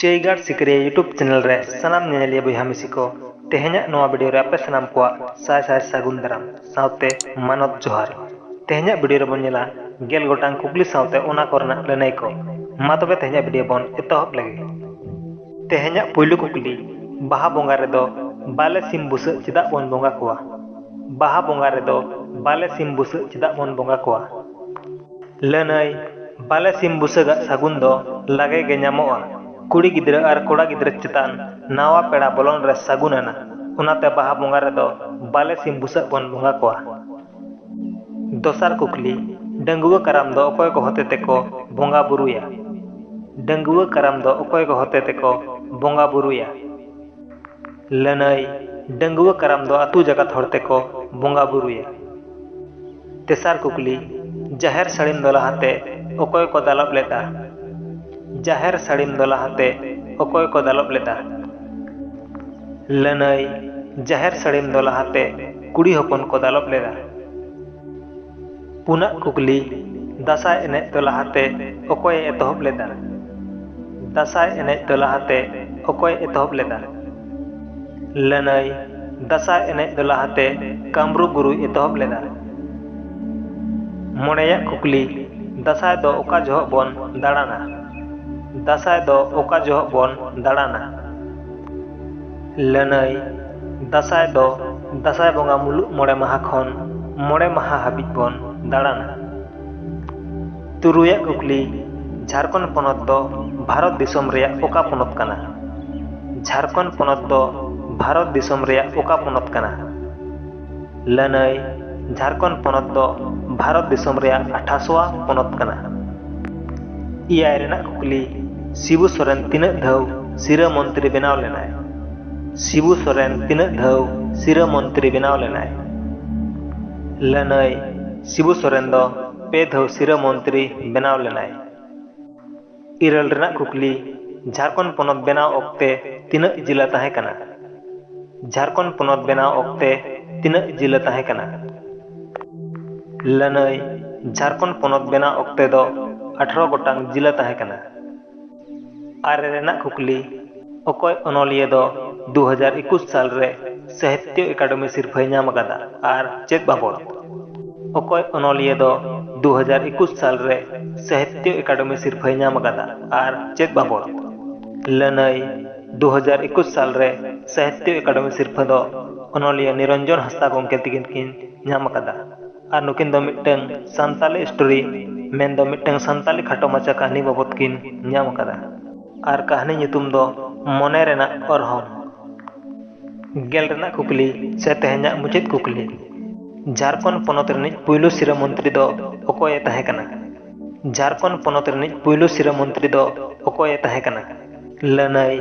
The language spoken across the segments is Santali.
ᱪᱟᱹᱭᱜᱟᱲ ᱥᱤᱠᱟᱹᱨᱤᱭᱟᱹ ᱭᱩᱴᱩᱵᱽ ᱪᱮᱱᱮᱞ ᱨᱮ ᱥᱟᱱᱟᱢ ᱧᱮᱧᱮᱞᱤᱭᱟᱹ ᱵᱚᱭᱦᱟ ᱢᱤᱥᱤ ᱠᱚ, ᱛᱮᱦᱮᱧᱟᱜ ᱱᱚᱣᱟ ᱵᱤᱰᱤᱭᱳ ᱨᱮ ᱟᱯᱮ ᱥᱟᱱᱟᱢ ᱠᱚᱣᱟᱜ ᱥᱟᱭ ᱥᱟᱭ ᱥᱟᱹᱜᱩᱱ ᱫᱟᱨᱟᱢ ᱥᱟᱶᱛᱮ ᱢᱟᱱᱚᱛ ᱡᱚᱦᱟᱨ᱾ ᱛᱮᱦᱮᱧᱟᱜ ᱵᱤᱰᱤᱭᱳ ᱨᱮ ᱵᱚᱱ ᱧᱮᱞᱟ ᱜᱮᱞ ᱜᱚᱴᱟᱝ ᱠᱩᱠᱞᱤ ᱥᱟᱶᱛᱮ ᱚᱱᱟ ᱠᱚ ᱨᱮᱱᱟᱜ ᱞᱟᱹᱱᱟᱹᱭ ᱠᱚ᱾ ᱢᱟ ᱛᱚᱵᱮ ᱛᱮᱦᱮᱧᱟᱜ ᱵᱤᱰᱤᱭᱳ ᱵᱚᱱ ᱮᱛᱚᱦᱚᱵ ᱞᱮᱜᱮ᱾ ᱛᱮᱦᱮᱧᱟᱜ ᱯᱩᱭᱞᱩ ᱠᱩᱠᱞᱤ, ᱵᱟᱦᱟ ᱵᱚᱸᱜᱟ ᱨᱮ ᱫᱚ ᱵᱟᱞᱮ ᱥᱤᱢ ᱵᱩᱥᱟᱹᱜ ᱪᱮᱫᱟᱜ ᱵᱚᱱ ᱵᱚᱸᱜᱟ ᱠᱚᱣᱟ? ᱵᱟᱦᱟ ᱵᱚᱸᱜᱟ ᱨᱮ ᱫᱚ ᱵᱟᱞᱮ ᱥᱤᱢ ᱵᱩᱥᱟᱹᱜ ᱪᱮᱫᱟᱜ ᱵᱚᱱ ᱵᱚᱸᱜᱟ ᱠᱚᱣᱟ? ᱞᱟᱹᱱᱟᱹᱭ, ᱵᱟᱞᱮ ᱥᱤᱢ ᱵᱩᱥᱟᱹᱜ ᱟᱜ ᱥᱟᱹᱜᱩᱱ ᱫᱚ ᱞᱟᱜᱮ ᱜᱮ ᱧᱟᱢᱚᱜᱼᱟ᱾ ᱠᱩᱲᱤ ᱜᱤᱫᱽᱨᱟᱹ ᱟᱨ ᱠᱚᱲᱟ ᱜᱤᱫᱽᱨᱟᱹ ᱪᱮᱛᱟᱱ ᱱᱟᱣᱟ ᱯᱮᱲᱟ ᱵᱚᱞᱚᱱ ᱨᱮ ᱥᱟᱹᱜᱩᱱ ᱟᱱᱟ᱾ ᱚᱱᱟᱛᱮ ᱵᱟᱦᱟ ᱵᱚᱸᱜᱟ ᱨᱮ ᱫᱚ ᱵᱟᱞᱮ ᱥᱤᱢ ᱵᱩᱥᱟᱹᱜ ᱵᱚᱱ ᱵᱚᱸᱜᱟ ᱠᱚᱣᱟ᱾ ᱫᱚᱥᱟᱨ ᱠᱩᱠᱞᱤ, ᱰᱟᱺᱜᱩᱣᱟᱹ ᱠᱟᱨᱟᱢ ᱫᱚ ᱚᱠᱚᱭ ᱠᱚ ᱦᱚᱛᱮ ᱛᱮ ᱠᱚ ᱵᱚᱸᱜᱟ ᱵᱩᱨᱩᱭᱟ? ᱰᱟᱺᱜᱩᱣᱟᱹ ᱠᱟᱨᱟᱢ ᱫᱚ ᱚᱠᱚᱭ ᱠᱚ ᱦᱚᱛᱮ ᱛᱮ ᱠᱚ ᱵᱚᱸᱜᱟ ᱵᱩᱨᱩᱭᱟ? ᱞᱟᱹᱱᱟᱹᱭ, ᱰᱟᱺᱜᱩᱣᱟᱹ ᱠᱟᱨᱟᱢ ᱫᱚ ᱟᱹᱛᱩ ᱡᱟᱠᱟᱛ ᱦᱚᱲ ᱛᱮᱠᱚ ᱵᱚᱸᱜᱟ ᱵᱩᱨᱩᱭᱟ᱾ ᱛᱮᱥᱟᱨ ᱠᱩᱠᱞᱤ, ᱡᱟᱦᱮᱨ ᱥᱟᱹᱲᱤᱢ ᱫᱚ ᱞᱟᱦᱟ ᱛᱮ ᱚᱠᱚᱭ ᱠᱚ ᱫᱟᱞᱚᱵ ᱞᱮᱫᱼᱟ? ᱡᱟᱦᱮᱨ ᱥᱟᱹᱲᱤᱢ ᱫᱚ ᱞᱟᱦᱟ ᱛᱮ ᱚᱠᱚᱭ ᱠᱚ ᱫᱟᱞᱚᱵ ᱞᱮᱫᱼᱟ? ᱞᱟᱹᱱᱟᱹᱭ, ᱡᱟᱦᱮᱨ ᱥᱟᱹᱲᱤᱢ ᱫᱚ ᱞᱟᱦᱟ ᱛᱮ ᱠᱩᱲᱤ ᱦᱚᱯᱚᱱ ᱠᱚ ᱫᱟᱞᱚᱵ ᱞᱮᱫᱼᱟ᱾ ᱯᱩᱱᱟᱜ ᱠᱩᱠᱞᱤ, ᱫᱟᱥᱟᱭ ᱮᱱᱮᱡ ᱫᱚ ᱞᱟᱦᱟᱛᱮ ᱚᱠᱚᱭ ᱮ ᱮᱛᱚᱦᱚᱵ ᱞᱮᱫᱟ? ᱫᱟᱥᱟᱭ ᱮᱱᱮᱡ ᱫᱚ ᱞᱟᱦᱟᱛᱮ ᱚᱠᱚᱭ ᱮ ᱮᱛᱚᱦᱚᱵ ᱞᱮᱫᱟ? ᱞᱟᱹᱱᱟᱹᱭ, ᱫᱟᱥᱟᱭ ᱮᱱᱮᱡ ᱫᱚ ᱞᱟᱦᱟᱛᱮ ᱠᱟᱢᱨᱩ ᱜᱩᱨᱩᱭ ᱮᱛᱚᱦᱚᱵ ᱞᱮᱫᱟ᱾ ᱢᱚᱬᱮᱭᱟᱜ ᱠᱩᱠᱞᱤ, ᱫᱟᱥᱟᱭ ᱫᱚ ᱚᱠᱟ ᱡᱚᱦᱚᱜ ᱵᱚᱱ ᱫᱟᱲᱟᱱᱟ? ᱫᱟᱥᱟᱭ ᱫᱚ ᱚᱠᱟ ᱡᱚᱦᱚᱜ ᱵᱚᱱ ᱫᱟᱲᱟᱱᱟ? ᱞᱟᱹᱱᱟᱹᱭ ᱫᱟᱸᱥᱟᱭ ᱫᱚ ᱫᱟᱸᱥᱟᱭ ᱵᱚᱸᱜᱟ ᱢᱩᱞᱩᱜ ᱢᱚᱬᱮ ᱢᱟᱦᱟ ᱠᱷᱚᱱ ᱢᱚᱬᱮ ᱢᱟᱦᱟ ᱦᱟᱹᱵᱤᱡ ᱵᱚᱱ ᱫᱟᱬᱟᱱᱟ ᱛᱩᱨᱩᱭᱟᱜ ᱠᱩᱠᱞᱤ ᱡᱷᱟᱲᱠᱷᱚᱸᱰ ᱯᱚᱱᱚᱛ ᱫᱚ ᱵᱷᱟᱨᱚᱛ ᱫᱤᱥᱚᱢ ᱨᱮᱭᱟᱜ ᱚᱠᱟ ᱯᱚᱱᱚᱛ ᱠᱟᱱᱟ ᱡᱷᱟᱲᱠᱷᱚᱸᱰ ᱯᱚᱱᱚᱛ ᱫᱚ ᱵᱷᱟᱨᱚᱛ ᱫᱤᱥᱚᱢ ᱨᱮᱭᱟᱜ ᱚᱠᱟ ᱯᱚᱱᱚᱛ ᱠᱟᱱᱟ ᱞᱟᱹᱱᱟᱹᱭ ᱡᱷᱟᱨᱠᱷᱚᱸᱰ ᱯᱚᱱᱚᱛ ᱫᱚ ᱵᱷᱟᱨᱚᱛ ᱫᱤᱥᱚᱢ ᱨᱮᱭᱟᱜ ᱟᱴᱷᱟᱥᱣᱟ ᱯᱚᱱᱚᱛ ᱠᱟᱱᱟ ᱮᱭᱟᱭ ᱨᱮᱱᱟᱜ ᱠᱩᱠᱞᱤ ᱥᱤᱵᱩ ᱥᱚᱨᱮᱱ ᱛᱤᱱᱟᱹᱜ ᱫᱷᱟᱣ ᱥᱤᱨᱟᱹ ᱢᱚᱱᱛᱨᱤ ᱵᱮᱱᱟᱣ ᱞᱮᱱᱟᱭ ᱥᱤᱵᱩ ᱥᱚᱨᱮᱱ ᱛᱤᱱᱟᱹᱜ ᱫᱷᱟᱣ ᱥᱤᱨᱟᱹ ᱢᱚᱱᱛᱨᱤ ᱵᱮᱱᱟᱣ ᱞᱮᱱᱟᱭ ᱞᱟᱹᱱᱟᱹᱭ ᱥᱤᱵᱩ ᱥᱚᱨᱮᱱ ᱫᱚ ᱯᱮ ᱫᱷᱟᱣ ᱥᱤᱨᱟᱹ ᱢᱚᱱᱛᱨᱤ ᱵᱮᱱᱟᱣ ᱞᱮᱱᱟᱭ ᱤᱨᱟᱹᱞ ᱨᱮᱱᱟᱜ ᱠᱩᱠᱞᱤ ᱡᱷᱟᱨᱠᱷᱚᱸᱰ ᱯᱚᱱᱚᱛ ᱵᱮᱱᱟᱣ ᱚᱠᱛᱮ ᱛᱤᱱᱟᱹᱜ ᱡᱤᱞᱟ ᱛᱟᱦᱮᱸ ᱠᱟᱱᱟ? ᱡᱷᱟᱨᱠᱷᱚᱸᱰ ᱯᱚᱱᱚᱛ ᱵᱮᱱᱟᱣ ᱚᱠᱛᱮ ᱛᱤᱱᱟᱹᱜ ᱡᱤᱞᱟ ᱛᱟᱦᱮᱸ ᱠᱟᱱᱟ? ᱞᱟᱹᱱᱟᱹᱭ ᱡᱷᱟᱨᱠᱷᱚᱸᱰ ᱯᱚᱱᱚᱛ ᱵᱮᱱᱟᱣ ᱚᱠᱛᱮ ᱫᱚ ᱟᱴᱷᱨᱚ ᱜᱚᱴᱟᱝ ᱡᱤᱞᱟ ᱛᱟᱦᱮᱸ ᱠᱟᱱᱟ᱾ ᱟᱨᱮ ᱨᱮᱱᱟᱜ ᱠᱩᱠᱞᱤ ᱚᱠᱚᱭ ᱚᱱᱚᱞᱤᱭᱟᱹ ᱫᱚ ᱫᱩ ᱦᱟᱡᱟᱨ ᱮᱠᱩᱥ ᱥᱟᱞ ᱨᱮ ᱥᱟᱦᱤᱛᱭᱚ ᱮᱠᱟᱰᱮᱢᱤ ᱥᱤᱨᱯᱷᱟᱹᱭ ᱧᱟᱢ ᱟᱠᱟᱫᱟ ᱟᱨ ᱪᱮᱫ ᱵᱟᱵᱚᱫ? ᱚᱠᱚᱭ ᱚᱱᱚᱞᱤᱭᱟᱹ ᱫᱚ ᱫᱩ ᱦᱟᱡᱟᱨ ᱮᱠᱩᱥ ᱥᱟᱞ ᱨᱮ ᱥᱟᱦᱤᱛᱭᱚ ᱮᱠᱟᱰᱮᱢᱤ ᱥᱤᱨᱯᱷᱟᱹᱭ ᱧᱟᱢ ᱟᱠᱟᱫᱟ ᱟᱨ ᱪᱮᱫ ᱵᱟᱵᱚᱫ? ᱞᱟᱹᱱᱟᱹᱭ, ᱫᱩ ᱦᱟᱡᱟᱨ ᱮᱠᱩᱥ ᱥᱟᱞ ᱨᱮ ᱥᱟᱦᱤᱛᱭᱚ ᱮᱠᱟᱰᱮᱢᱤ ᱥᱤᱨᱯᱷᱟᱹ ᱫᱚ ᱚᱱᱚᱞᱤᱭᱟᱹ ᱱᱤᱨᱚᱱᱡᱚᱱ ᱦᱟᱸᱥᱫᱟ ᱜᱚᱢᱠᱮ ᱛᱤᱠᱤᱱ ᱠᱤᱱ ᱧᱟᱢ ᱟᱠᱟᱫᱟ᱾ ᱟᱨ ᱱᱩᱠᱤᱱ ᱫᱚ ᱢᱤᱫᱴᱟᱝ ᱥᱟᱱᱛᱟᱞᱤ ᱥᱴᱳᱨᱤ ᱢᱮᱱᱫᱚ ᱢᱤᱫᱴᱟᱝ ᱥᱟᱱᱛᱟᱞᱤ ᱠᱷᱟᱴᱚ ᱢᱟᱪᱷᱟ ᱠᱟᱹᱦᱱᱤ ᱵᱟᱵᱚᱛ ᱠᱤᱱ ᱧᱟᱢ ᱟᱠᱟᱫᱟ ᱟᱨ ᱠᱟᱹᱦᱱᱤ ᱧᱩᱛᱩᱢ ᱫᱚ ᱢᱚᱱᱮ ᱨᱮᱱᱟᱜ ᱚᱨᱦᱚᱝ ᱜᱮᱞ ᱨᱮᱱᱟᱜ ᱠᱩᱠᱞᱤ ᱥᱮ ᱛᱮᱦᱮᱧᱟᱜ ᱢᱩᱪᱟᱹᱫ ᱠᱩᱠᱞᱤ ᱡᱷᱟᱨᱠᱷᱚᱸᱰ ᱯᱚᱱᱚᱛ ᱨᱤᱱᱤᱡ ᱯᱩᱭᱞᱩ ᱥᱤᱨᱟᱹ ᱢᱚᱱᱛᱨᱤ ᱫᱚ ᱚᱠᱚᱭᱮ ᱛᱟᱦᱮᱸ ᱠᱟᱱᱟ ᱡᱷᱟᱨᱠᱷᱚᱸᱰ ᱯᱚᱱᱚᱛ ᱨᱤᱱᱤᱡ ᱯᱩᱭᱞᱩ ᱥᱤᱨᱟᱹ ᱢᱚᱱᱛᱨᱤ ᱫᱚ ᱚᱠᱚᱭᱮ ᱛᱟᱦᱮᱸ ᱠᱟᱱᱟ ᱞᱟᱹᱱᱟᱹᱭ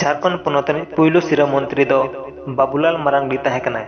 ᱡᱷᱟᱨᱠᱷᱚᱸᱰ ᱯᱚᱱᱚᱛ ᱨᱤᱱᱤᱡ ᱯᱩᱭᱞᱩ ᱥᱤᱨᱟᱹ ᱢᱚᱱᱛᱨᱤ ᱫᱚ ᱵᱟᱵᱩᱞᱟᱞ ᱢᱟᱨᱟᱝᱰᱤ ᱛᱟᱦᱮᱸ ᱠᱟᱱᱟᱭ